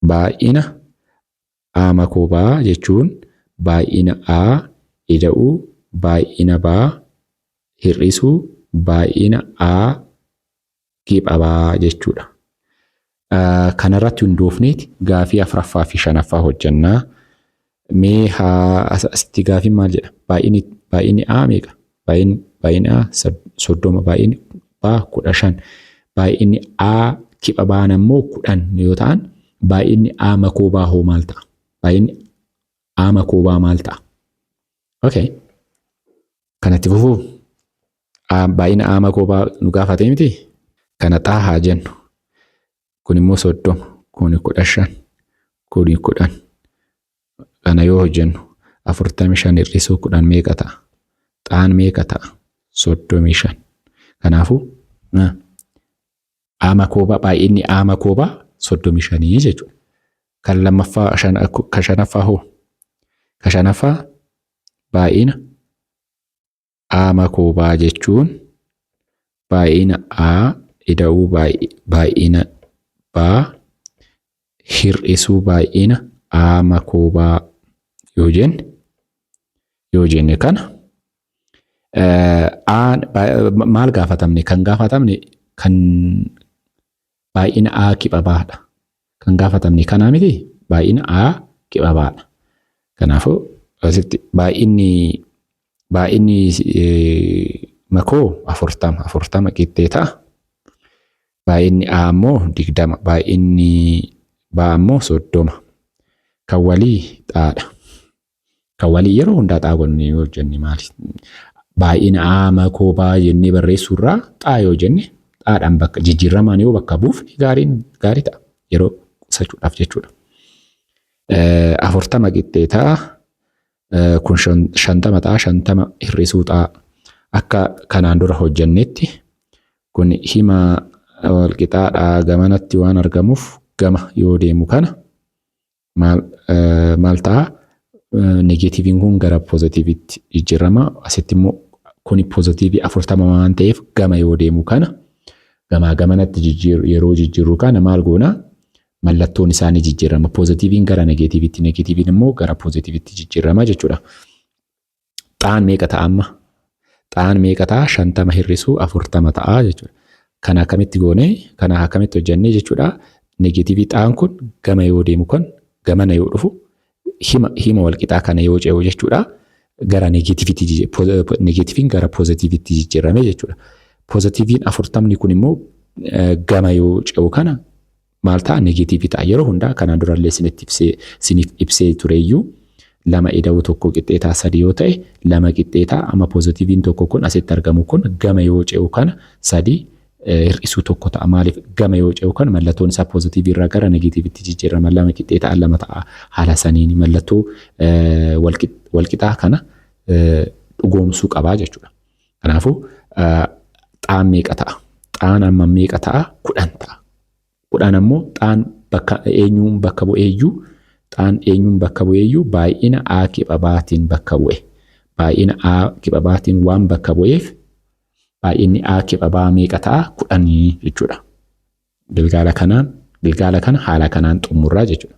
Baay'ina A makoo B jechuun baay'ina A ida'uu baay'ina B hir'isuu baay'ina A gipha B jechuudha. Kanarratti hundoofneeti gaafii afraffaa fi shanaffaa hojjannaa. Mee haa as- asitti gaafiin maal jedha? Baay'ini baay'ini A meeqa? Baay'in baay'ini A sad- soddoma baay'ini B kudha shan baay'ini A kipha baan ammoo kudhan yoo ta'an baay'inni A makoo baa hoo maal ta'a? Baay'inni A makoo baa maal ta'a? Okay. Kanatti fufuu A- baay'ina A makoo baa nu gaafatee miti? Kana xaa haa jennu. kun immoo soddoma kuni kudha shan kuni kudhan kana yoo hojjennu afurtamii shan hir'isuu kudhan meeqa ta'a xaan meeqa ta'a soddomii shan kanaafuu aama koobaa baay'inni aama koobaa soddomii shanii jechuudha kan lammaffaa ka shanaffaa hoo ka shanaffaa baay'ina a makoobaa jechuun baay'ina a ida'uu baay'ina baa hir'isuu baay'ina a makoobaa yoo jenne yoo jenne kana maal gaafatamne kan gaafatamne kan baay'ina A kiphabaadha. Kan gaafatamne kanaa miti baay'ina A kiphabaadha. Kanaafuu asitti baay'inni baay'inni makoo afurtama afurtama qixxee ta'a. Baay'inni A ammoo digdama baay'inni B ammoo soddoma. Kan walii xaadha. Kan walii yeroo hundaa xaa gonnee yoo jenne maali? Baay'ina aa makoo baa jennee barreessuu irraa xaa yoo jenne xaadhaan bakka jijjiirramaan yoo bakka buufne gaariin gaarii ta'a. Yeroo qusachuudhaaf jechuudha. Afurtama qixxee ta'a. Kun shantama ta'a. Shantama hir'isuu ta'a. Akka kanaan dura hojjennetti kun hima walqixaadhaa gamanatti waan argamuuf gama yoo deemu kana maal ta'a? Negeetiiviin kun gara poozitiiviitti jijjiirama. Asitti immoo kuni poozitiivii afurtama waan ta'eef gama yoo deemu kana gamaa gamanatti jijjiir- yeroo jijjiirru kana maal goona? Mallattoon isaa ni jijjiirama. Poozitiiviin gara negeetiiviitti, negeetiiviin immoo gara poozitiiviitti jijjiirama jechuudha. Xaan meeqa ta'a amma? Xaan meeqa ta'a? Shantama hir'isuu afurtama ta'a jechuudha. Kana akkamitti goone? Kana akkamitti hojjannee jechuudha. Negeetiivii xaan kun gama yoo deemu kun gamana yoo dhufu hima hima walqixaa kana yoo ce'u jechuudha. Gara negeetiiviitti negeetiiviin gara poozitiiviitti jijjiirame jechuudha. Poozitiiviin afurtamni kun immoo gama yoo ce'u kana maal ta'a negeetiivii ta'a yeroo hundaa kanaan durallee isinitti ibsee isiniif ibsee tureeyyuu lama ida'uu tokko qixxee ta'a sadi yoo ta'e lama qixxee ta'a amma poozitiiviin tokko kun asitti argamu kun gama yoo ce'u kana sadi hir'isuu tokko ta'a maaliif gama yoo ce'u kana mallattoon isaa poozitiivii irraa gara negeetiivitti jijjiirama lama qixxee ta'a lama ta'a haala saniin mallattoo walqixaa kana dhugoomsuu qabaa jechuudha. Kanaafuu xaan meeqa ta'a? Xaan amma meeqa ta'a? Kudhan ta'a. Kudhan ammoo xaan bakka eenyuun bakka bu'eeyyuu xaan eenyuun bakka bu'eeyyuu baay'ina A kibabaatiin bakka bu'e. Baay'ina A kibabaatiin waan bakka bu'eef baay'inni A kibabaa meeqa ta'a? Kudhanii jechuudha. Gilgaala kanaan gilgaala kana haala kanaan xumurraa jechuudha.